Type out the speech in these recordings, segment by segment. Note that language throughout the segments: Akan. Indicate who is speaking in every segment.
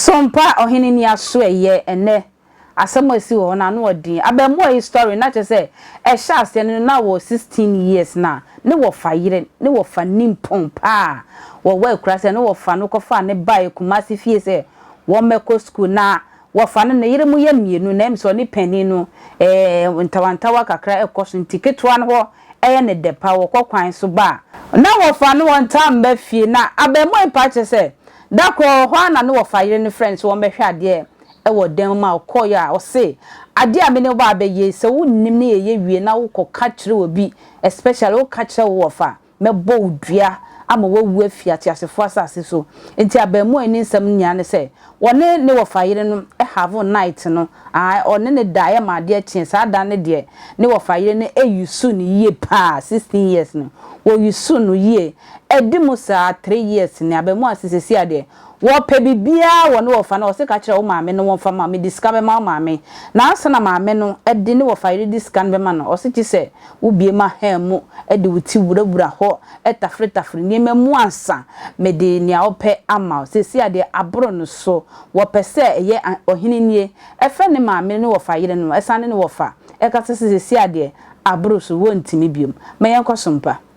Speaker 1: So mpa ɔhene ni aso ɛyɛ ɛnɛ asɛm a ɛsi wɔ hɔ no ano ɔden abɛmoa yi story na kyerɛ sɛ ɛhyɛ aseɛ no na wɔ sixteen years na ne wɔfa yere ne wɔfa nimpɔn paa wɔ wɔ akura sɛ ne wɔfa no kɔfaa ne baɛ kumase fie sɛ wɔmmɛkɔ sukuu. Na wɔfa no ne yere mu yɛ mmienu na mmso ɔne panin no ɛɛ ntawantawa kakra ɛkɔ so nti ketewa no hɔ ɛyɛ no dɛ paa wɔkɔ kwan so ba a. Na wɔfa no wɔntaa mma fie na abɛɛmoa yi paa kyerɛ sɛ da koro ɔwɔ hɔ a na ne wɔfa yere no frɛ no sɛ wɔmmɛhwɛ adeɛ ɛwɔ dan mu ma ɔkɔeɛ a ɔse adeɛ a me ne wo ba abɛyɛ yi sɛ wonnim ne yɛyɛ wie na wokɔ ka kyerɛ obi especially woka kyerɛ wo wɔfa Mɛbɔ wo dua ama woawu afi ateasefoɔ asase so. Enti abarimaa yi ne nsɛm no nyinaa ne sɛ, wɔne ne wɔfa yere no have night no, ae, ɔne no daeɛ maa adeɛ kyeeɛ. Saa da no deɛ, ne wɔfa yere no usuu no yie pa ara, sixteen years no, wɔusuu no yie. Ɛdi mu saa, three years nie, abarimaa yi se seesei ara deɛ, Wɔpɛ biribiara wɔ ne wɔfa na wɔse ka kyerɛ wo maame no wɔmfa ma, mede sika bɛma wo maame. Na ansa na maame no de ne wɔfa yere de sika no bɛma no, ɔse gye sɛ wo bue m'aha mu de wo ti wurawura hɔ tafiretafire nneɛma mu ansa mede nea wopɛ ama wo. Seesei adeɛ aboro no so, wɔpɛ sɛ ɛyɛ ɔhene nie fɛ ne maame ne wɔfa yere no, ɛsane ne wɔfa ɛkasa sɛ seesei adeɛ aboro so, wɔntumi biom. Ma yɛnkɔ so mpa.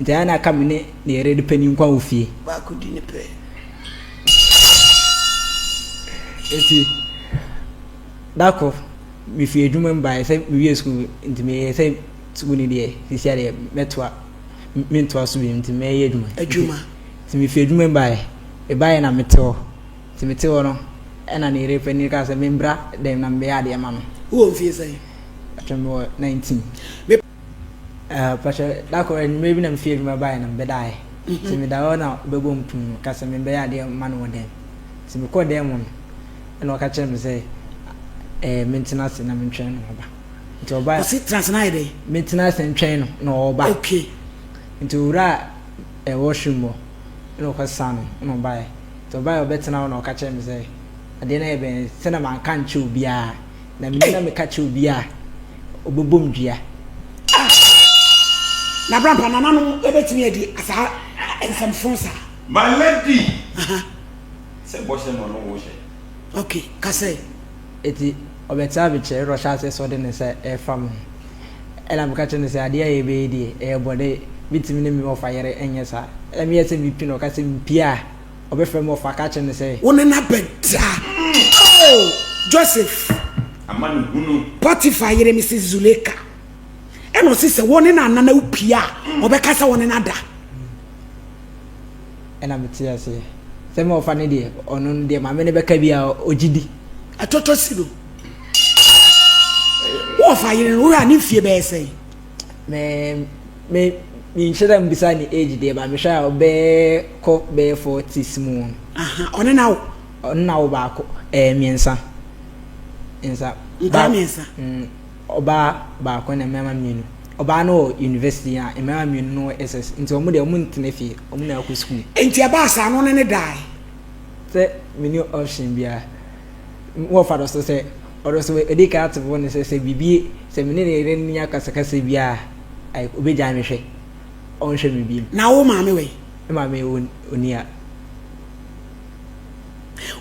Speaker 2: Enti ɛyɛ a na aka me ne ne yere de panyin nkwa wɔ fie. Baako di ne pɛ. Enti da koro mefiri adwuma mu baeɛ sɛ mewie sukuu nti meyɛ sɛ sukuu no deɛ sisi adeɛ mɛtoa mentoa so bi nti mɛyɛ adwuma. Adwuma. Nti mefiri adwuma mu baeɛ mebaeɛ na mete hɔ nti mete hɔ no ɛna ne yere panyin kaa sɛ membra dɛm na mebɛyɛ adeɛ ma no. Wowɔ mfie
Speaker 3: sɛn? Atwa mewɔ
Speaker 2: 19. Ɛɛ pakyɛ da kor enyimber bi na mifii edwuma bae na mebɛdae. Ntsi meda hɔ na ɔbɛbɔ mu pum ka sɛ mebɛyɛ adeɛ mma no wɔ dan mu. Ntsi mokɔr dan mu no nna ɔka kyerɛɛ me sɛ ɛɛ mentsena ase na mentwɛn no ɔba. Ntsi ɔbae a. Ɔse tsena ase na ayɛ dɛn?
Speaker 3: Mentsena ase ntwɛn
Speaker 2: no na ɔba. Okay.
Speaker 3: Ntsi owuraa
Speaker 2: ɛɛ washroom hɔ nna ɔkɔsesã no nna ɔbae. Ntsi ɔbae a ɔbɛtsena hɔ na ɔka kyerɛɛ me sɛ adeɛ no ayɛ bɛn sɛ na manka annkyerɛ obiara. Na me nyina meka kyerɛ obia a ɔbɛbom dua. Ah!
Speaker 3: Na brampa nananom bɛtumi adi saa nsɛmfoo saa. My lady! Aha.
Speaker 4: Sɛ bɔhyɛ no ɔno wohyɛ. Ok, ka
Speaker 3: sɛ. Eti
Speaker 2: ɔbɛtena me kyɛn na ɔhyɛ aseɛ sɛ ɔde ne nsa ɛfa me ho. Ɛna meka kyerɛ no sɛ adeɛ a yɛbɛyɛ deɛ ɛyɛ bɔne, mentumi ne me ɔfa yere nyɛ saa. Ɛna meyɛ sɛ mepi na ɔka sɛ mpia. ɔbɛfrɛ me ɔfa ka kyerɛ no sɛ. Wo ne no abɛda.
Speaker 3: O Joseph! Amanehunu.
Speaker 4: Potiphar yere ne se
Speaker 3: Zuleika. Ɛna ɔse sɛ wo ne no anana wo pie a, ɔbɛka sɛ wo ne no ada.
Speaker 2: Ɛna me te aseɛ sɛ me ɔfa no deɛ, ɔno no deɛ ma me ne bɛka bi a ɔgye di. Ɛtɔtɔ si
Speaker 3: no, wo ɔfa yere no, wohwɛ a ne mfie bɛyɛ sɛn? Me
Speaker 2: me menhyɛ da mbisa ne age deɛ ba mehwɛ a ɔbɛkɔ bɛyɛ forties mu. Aha ɔne na wo.
Speaker 3: Ɔne na wo baako ɛɛ mmiɛnsa.
Speaker 2: Mmiɛnsa. Nkaa mmiɛnsa.
Speaker 3: Mm, ɔbaa
Speaker 2: baako na mmarima mmienu. Ɔbaa no wɔ university a mmarima mmienu no wɔ SS nti wɔn deɛ wɔn ntena fie wɔn na akɔ school. Nti ɛbaa saa no ne
Speaker 3: ne dae. Sɛ
Speaker 2: mini option biara wɔfa do so sɛ. Ɔno nso ɔdii kan te bo no sɛ, sɛ biribi, sɛ me ne ne yere no nya akasakasa bi a, like, obegyae me hwɛ. Ɔnhwɛ me bio. Na wo maame wɔ
Speaker 3: he? Me maame
Speaker 2: onni ha.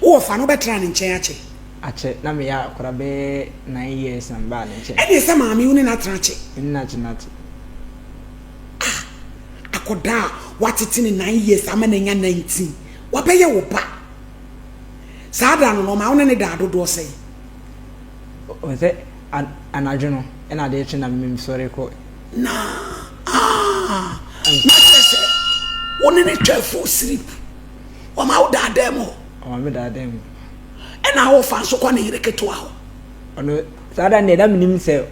Speaker 3: Wowɔ fa no, wobɛtraa ne nkyɛn akyɛ? Akyɛ. Na
Speaker 2: meyɛ akwadaa bɛyɛ nine years na mebaa ne nkyɛn. Ɛnneɛ sɛ maame, wo ne no
Speaker 3: atena akyɛ? Me ne no atena akyɛ. Ah! Akwadaa a woatete no nine years ama no anya nineteen, wabɛyɛ wo ba. Saa da no, na ɔma wo ne no daa dodoɔ sɛn?
Speaker 2: Ɔhu sɛ anadwo no na adeɛ kye na mesɔre kɔ. Na
Speaker 3: ah, na kyerɛ sɛ wo ne no twaa full sleep. Ɔma wo daa dan mu hɔ. Ɔma me daa dan
Speaker 2: mu. Ɛna wofa
Speaker 3: nso kɔ ne yere ketewa hɔ. Ɔno
Speaker 2: saa da no deɛ na menim sɛ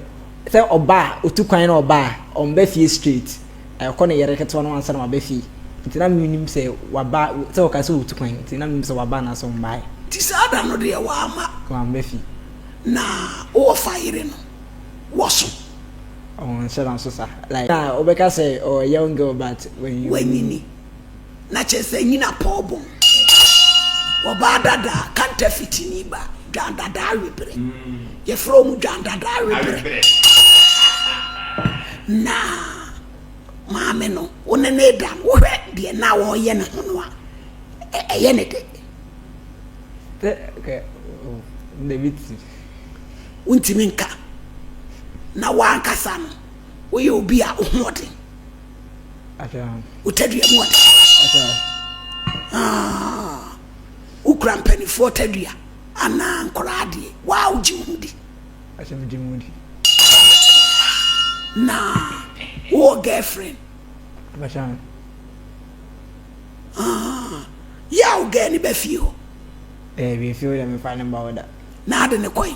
Speaker 2: sɛ ɔba a ɔtu kwan na ɔba a ɔmba fie straight. Ɛkɔ ne yere ketewa no ansa na waba fie, nti na mennim sɛ waba, sɛ ɔkae sɛ ɔretu kwan, nti na mennim sɛ waba anaasɛ ɔmmaeɛ. Nti saa da no deɛ wamma.
Speaker 3: Wamma fie. Na wɔfa yere
Speaker 2: no
Speaker 3: wɔ so.
Speaker 2: Ɔnhyɛ no nso saa. Like na wobɛka sɛ ɔwɔ young girl but wanyini.
Speaker 3: na kyerɛ sɛ nyina pɔw bɔn. Wɔbaa dada a, kantafiti ni ba, dwan dada aweberɛ. Yɛfrɛ wɔn dwan dada aweberɛ. Na maame no, wo ne ne da no, wohwɛ deɛ na ɔreyɛ ne ho no a, ɛyɛ ne dɛ.
Speaker 2: Wontumi
Speaker 3: nka na wankasa no, woyɛ obi a wo ho ɔden.
Speaker 2: wo tadua
Speaker 3: mu ɔde ah,
Speaker 2: wokura
Speaker 3: mpanimfoɔ tadua anaa nkɔraa adeɛ waa wogye wo ho
Speaker 2: di
Speaker 3: na wowɔ girlfriend ah, yɛ a wo gɛɛ ne bɛfie hɔ
Speaker 2: na ade ne kɔe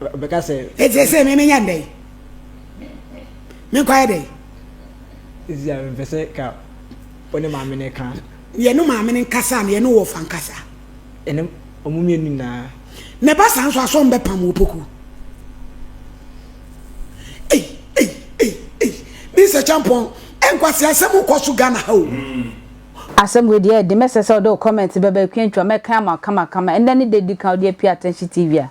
Speaker 2: ɔbɛka sɛ. Eti ese me
Speaker 3: menya ndɛ yi. Me nkwa yɛ dɛ yi. Esi
Speaker 2: a mepɛ sɛ ka wo ne maame no ka. Yɛ no maame no
Speaker 3: nkasa na yɛ no wɔfa nkasa. Ɛne
Speaker 2: ɔmo mmienu nyinaa. Na ɛba saa nso
Speaker 3: asɔ mbɛ pam opoku. Ei ei ei ei mi sɛ kyampɔn ɛnkwasi asɛm kɔ so Ghana ha o. Mm. Asɛm
Speaker 1: wei deɛ ɛyɛ den, mɛsɛ sɛ wode wo comment bɛba Akua Ntwa mɛkan ama wo kamakama. Ɛnnɛ ne da a ɛdi kan a wode apue Atɛnhye TV a.